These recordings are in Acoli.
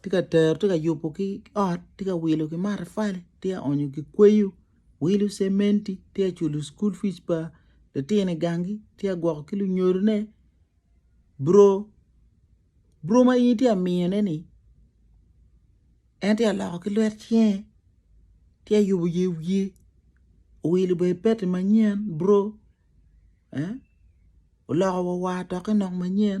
tye ka tero tye ka yubo ki ot tye ka wilo ki matafali tye ka onyo ki kweyo wilo cementi tye ka culo cukul fic pa litino i gangi tye ka gwoko ki lunyodone buro, buro ma in itye ka miyone-ni en tye ka loko ki lwet cinge tye ka yubo yer wiye owilo bene pete manyen buro oloko wa war doki nok manyen.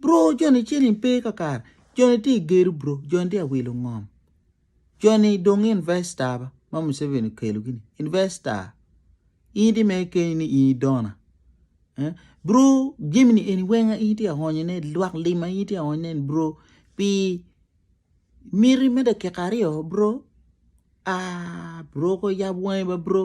Bro joni ciling pe kakare joni tye gedo bro joni tye awilo ngom joni dong investor ba ma museveni okelo gini investor in itye mere keni ni in idona eh? bro jami ni eni weng in itye ahonyo ne lwak lim ma in itye ahonyo ne bro pi miti me dakika aryo bro ah bro ko yab wangi ba bro